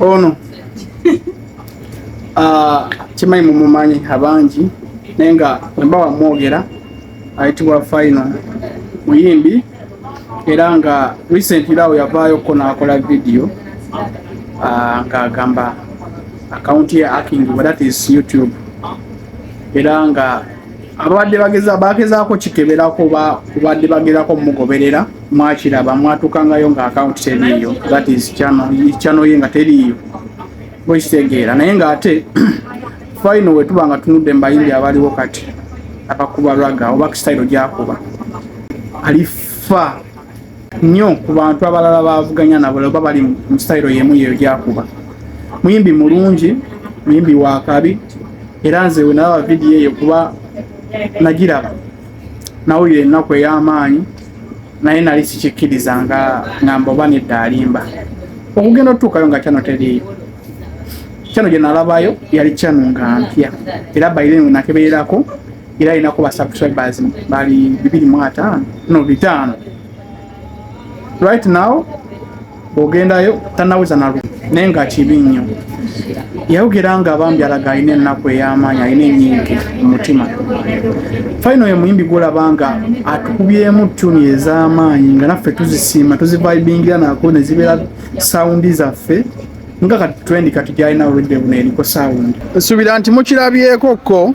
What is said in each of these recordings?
ono ah, kimanyi mumumanyi abangi naye nga wemba wamwogera ayitibwa final muyimbi era nga recently awo yavaayo ko nakola video ah, nga agamba akawunti ye akingibwa that is youtube era nga ababadde bageza bagezaako kikebera kuba kubadde bagerako mugoberera mwakiraba mwatukangayo nga akawunti teriiyo that is channel ye nga teriiyo bwekitegeera naye nga ate final wetuba nga tunudde mubayimbi abaliwo kati abakuba raga oba kisitayiro gyakuba alifa nnyo ku bantu abalala bavuganya nabo oba bali mu sitayiro yemu yeyo gyakuba muyimbi mulungi muyimbi wakabi era nze wenalaba vidiyo eyo kuba nagiraba Nawulira ennaku ey'amaanyi naye nali sikikkiriza nga ngamba oba nedda alimba. Okugenda otutuukayo nga kyano teriiyo. Kyano gye nalabayo yali kyano nga mpya era bayire we nakebererako era alinako ba subscribers bali bibiri mu ataano no bitaano right now. ogendayo tanaweza nalu naye nga kibi nnyo yayogera nga bambi alaga alina ennaku ey'amaanyi alina enyingi mu mutima fayina oyo muyimbi gwolaba nga atukubyemu tuni ez'amaanyi nga naffe tuzisiima tuzivibingira nako ne zibeera sawundi zaffe nga kati twendi kati gyalina oludde buno eriko sawundi nsuubira nti mukirabyeko ko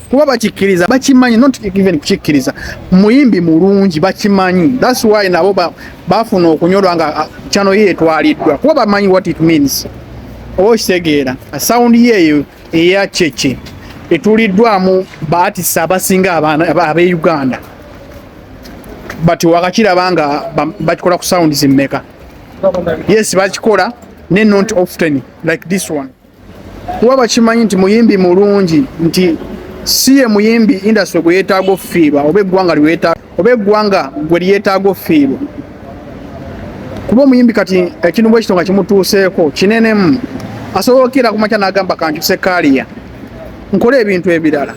kuba bakikkiriza bakimanyi not even kukikkiriza muyimbi mulungi bakimanyi that's why nabo bafuna okunyolwa nga ah, channel ye etwaliddwa kuba bamanyi what it means oba okitegeera sound yeeyo eya kyekye etuliddwamu baatisa abasinga ab'e uganda but wakakiraba nga bakikola ku sound zimmeka yes bakikola ne not often like this one kuba bakimanyi nti muyimbi mulungi nti si ye muyimbi indasitule gwe yeetaaga okufiirwa oba eggwanga oba eggwanga gwe lyeetaaga okufiirwa kuba omuyimbi kati ekintu bwekito nga kimutuuseeko kinenemu asobola okukeera ku makya n'agamba kankyuse kaaliya nkole ebintu ebirala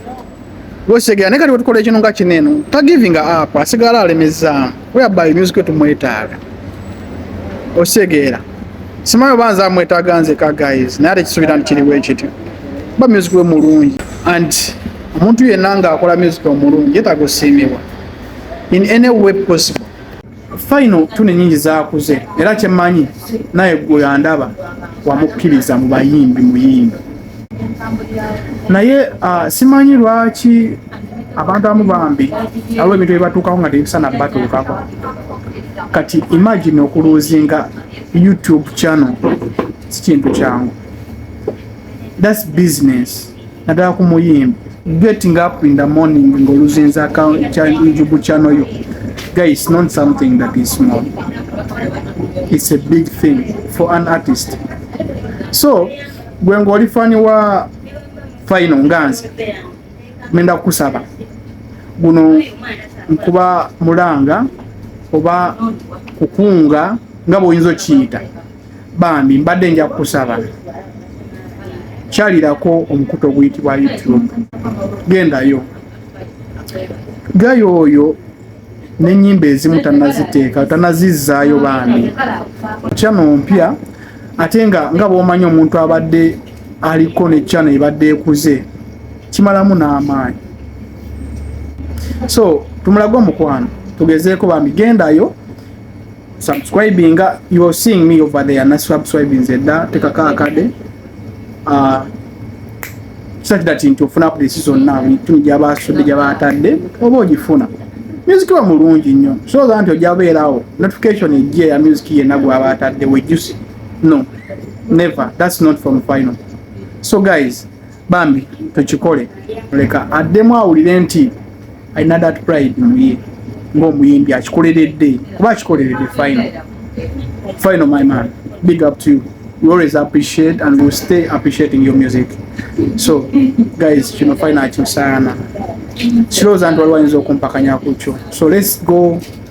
Wesegera naye kati wetukola ekintu nga kino eno tagivinga app asigala alemezaamu whereby music we tumwetaaga osegeera simayo banza amwetaaga nzeka guys naye ate kisuubira nti kiriwo ekityo kuba music we mulungi and omuntu yenna ng'akola music omulungi yetaaga osiimibwa in any way possible Final tune nyingi zakuze era kyemanyi naye gwe yandaba wamukkiriza mu bayimbi muyimbi naye uh, simanyi lwaki abantu amu bambi awo ebintu byebatukako nga tebisana batuukako kati imagine okuluzinga youtube channel sikintu kyangu thats business naddala ku muyimbi getting up in the morning ng'oluzinza youtube channel yo guys not something that is small it's a big thing for an artist so gwe ng'oli fani wa final nga nze menda kukusaba guno nkuba mulanga oba kukunga nga bw'oyinza okiyita Bambi mbadde nja kukusaba kyalirako omukutu oguyitibwa YouTube, gendayo gayo oyo n'ennyimba ezimu tanaziteeka tanazizzaayo bambi channel mpya ate nga nga bwomanyi omuntu abadde aliko ne channel ebadde ekuze kimalamu n'amaanyi so tumulage omukwano tugezeeko bambi gendayo subscribinga you are seeing me over there na subscribing zedda tekako akade uh, such that nti ofuna updates zonna bintu gyabasudde gyabatadde oba ogifuna music wa mulungi nnyo soza nti ojja beerawo notification ejje ya music yenna gwaba atadde wejusi no never that's not from final so guys bambi tukikole leka addemu awulire nti alina that pride muye ng'omuyimbi akikoleredde kuba akikoleredde final final my man big up to you we always appreciate and we stay appreciating your music so guys kino final kisaana kirowooza nti waliwo ayinza okumpakanya ku kyo so let's go